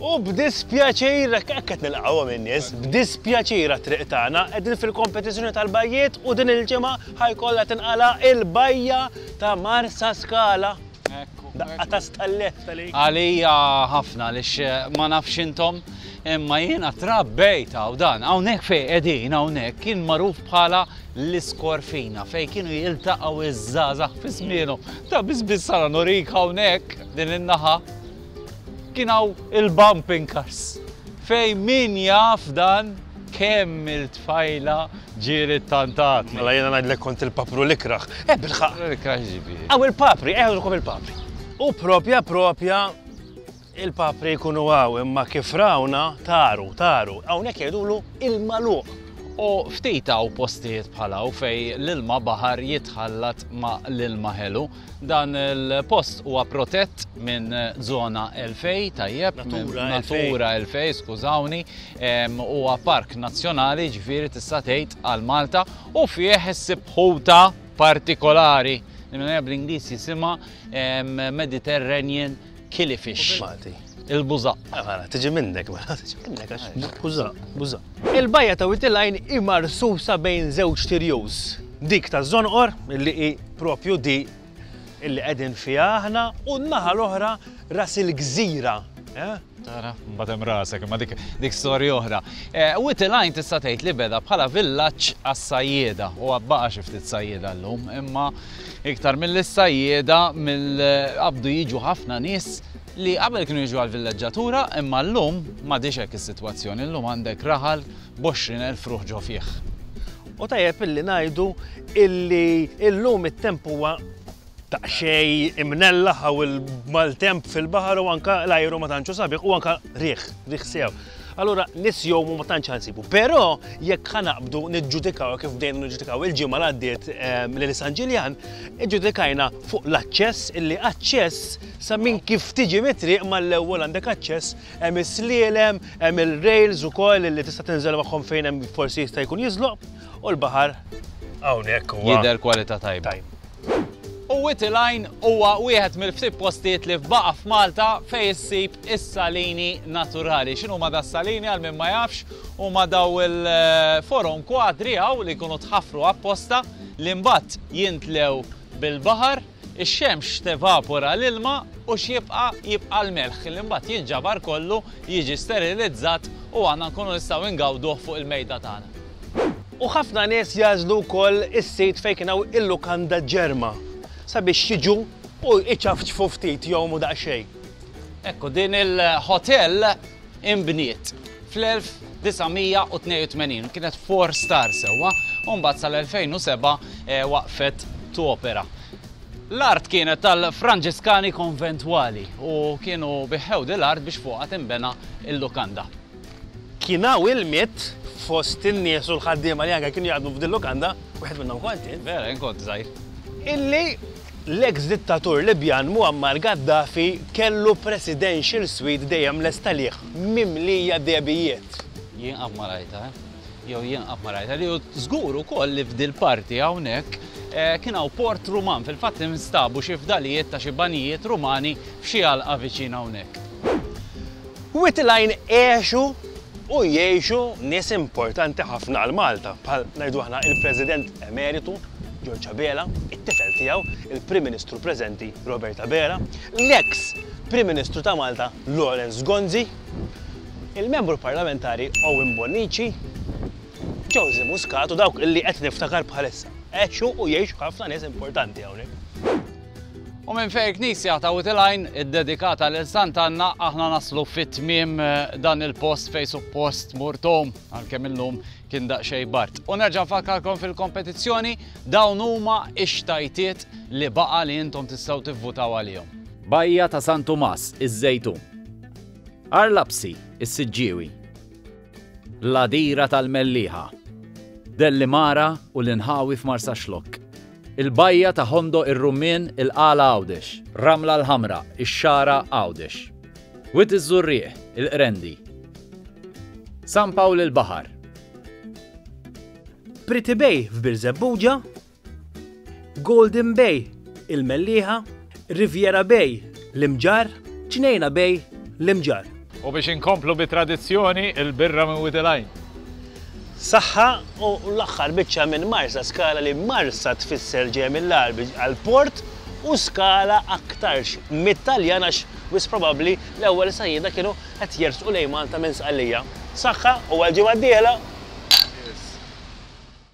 U b'dispjaċir, hekk qed nilqgħuhom in-nies, b'dispjaċir għat-triq tagħna qegħdin fil-kompetizzjoni tal-bajjiet u din il-ġimgħa ħa jkollha tinqala' il-bajja ta' Marsaskala. Daqqa ta' stallett tal Għalija ħafna għaliex eh, ma nafx intom imma jiena trabbejt hawn dan hawnhekk fejn qegħdin hawnhekk kien magħruf bħala l-iskorfina fejn kienu jiltaqgħu iż-żgħażagħ fi żmienhom ta' biss biss sara norik hawnhekk. Din in-naħa kien hawn il-bumping cars fejn min jaf dan kemm il-tfajla ġieret tantatni. Mela jiena ngħidlek kont il-papru l-ikrah. Eh bilħaqq! L-ikrah x'ġifieri? Hawn il-papri, eh hawn il-papri. U proprja proprja il-papri jkunu hawn imma kif rawna taru, taru, hawnhekk jgħidulu il-magħluq. U ftit hawn postijiet bħal hawn fejn l-ilma baħar jitħallat ma' l-ilma ħelu. Dan il-post huwa protett minn zona 2000, tajjeb, natura 2000, skużawni, huwa park nazzjonali ġifieri tista' tgħid għal Malta u fih issib ħuta partikolari. Bl-Ingliż jisimha Mediterranean Kili fix. Malti. Il-bużaq. Eh, mela, tiġi minnek, mela, tiġi minnek, għax bużaq, bużaq. Il-bajja ta' Witilajn hi marsusa bejn żewġ tirjuż. Dik ta' Zonqor, li hi propju di illi qegħdin fiha aħna, u n-naħa l-oħra ras il-gżira. Eh? Tara, batem rasek, ma dik dik storja oħra. Eh, Witilajn tista' tgħid li beda bħala villaġġ għas-sajjieda u għabbaqa xi ftit sajjieda llum, imma Iktar mill-sajjieda, mill-qabdu jiġu ħafna nies li qabel kienu jiġu għall-villeġġatura imma llum m'għadhiex hekk is-sitwazzjoni, llum għandek raħal b'għoxrin elf ruħ ġo fih. U tajjeb illi ngħidu illi llum it-temp huwa daqsxejn imnellaħ hawn il-maltemp fil-baħar u anke l-ajru ma tantx hu sabiħ u anke riħ, riħ sew. Allura nies jgħumu ma tantx ħansibu. Però jekk ħanaqbdu niġġudikaw kif bdejna niġġudikaw il-ġimgħa għaddiet ehm, lil San Ġiljan, iġġudikajna fuq l-aċċess illi aċċess sa minn kif tiġi mitriq mal-ewwel għandek aċċess hemm is-slielem, hemm il-rails ukoll li tista' tinżel magħhom fejn hemm forsi jista' jkun jiżloq u l-baħar hawnhekk huwa. Jidher kwalità tajba. U Whiti Line huwa wieħed mill-ftit postijiet li baqa' f'Malta fejn issib is-salini naturali. X'inhuma das-salini għal min ma jafx, huma dawn il-forom kwadri hawn li jkunu tħaffru apposta li mbagħad jintlew bil-baħar, ix-xemx tevapora l-ilma u x'jibqa' jibqa' l-melħ li mbagħad jinġabar kollu, jiġi sterilizzat u aħna nkunu nistgħu ngawduh fuq il-mejda tagħna. U ħafna nies jagħżlu wkoll is-sit fejn kien hawn il-lukanda ġerma sabiex jiġu u jċafċfu ftit, jgħumu daqsxejn. Ekku, din il-ħotell inbniet fl-1982, kienet four star sewwa, u mbagħad sal-2007 waqfet topera. L-art kienet tal-Franġiskani Konventwali u kienu biħħew dil-art biex fuqha tinbena l-lukanda. Kien hawn ilmiet fost in-nies u l-ħaddiema li anke kienu jaħdmu f'din lukanda, wieħed minnhom kont jien. Vera, jien kont żgħir. Illi l-eks dittatur Libjan Muammar Gaddafi kellu presidential suite dejjem lesta lih, mimlija dehbijiet. Jien qatt ma rajtha, jew jien qatt ma rajtha li u żgur ukoll li f'dil-parti hawnhekk kien hawn port Ruman, fil-fatt instabu xi fdalijiet ta' xi banjijiet Rumani f'xi għalqa viċin hawnhekk. Wied il-Għajn għexu u jgħixu nies importanti ħafna għal Malta, bħal, ngħidu aħna, il-President Emeritu George Abela, it-tifel tiegħu, il-Prim Ministru preżenti Robert Abela, l-eks Prim Ministru ta' Malta Lawrence Gonzi, il-Membru Parlamentari Owen Bonnici, Josy Muscat u dawk li qed niftakar bħalissa. Għexu u jgħixu ħafna nies importanti hawnhekk. U minn fejn il-knisja ta' Wied il-Għajn iddedikata lil Sant' Anna aħna naslu fi tmiem dan il-post fejn suppost mur Tom, għalkemm illum kien daqsxejn bard. U nerġa' nfakkarkom fil-kompetizzjoni, dawn huma x-xtajtiet li baqa' li intom tistgħu tivvutaw għalihom. Bajja ta' San Tumas, iż-Żejtun. Għar Lapsi, is-Siġġiewi. L-Għadira tal-Mellieħa, Dellimara u l-inħawi f'Marsaxlokk, il-bajja ta' Ħondoq ir-Rummien il-Qala Għawdex, Ramla l-Ħamra, ix-Xagħra Għawdex, Wied iż-Żurrieq, il-Qrendi, San Pawl il-Baħar, Pretty Bay f'Birżebbuġa, Golden Bay, il-Mellieħa, Riviera Bay, l-Imġarr, Ġnejna Bay, l-Imġarr. U biex inkomplu bi tradizzjoni, il-birra minn Wid il-Għajn. Saħħa u l-aħħar biċċa minn Marsa Skala li Marsa tfisser ġejja mill-Għarbi għal port u Skala aktarx mit-Taljan għax wis probabbli l-ewwel sajjieda kienu qed jersqu lejn Malta minn Sqallija. Saħħa u għall-ġimgħa d-dieħla!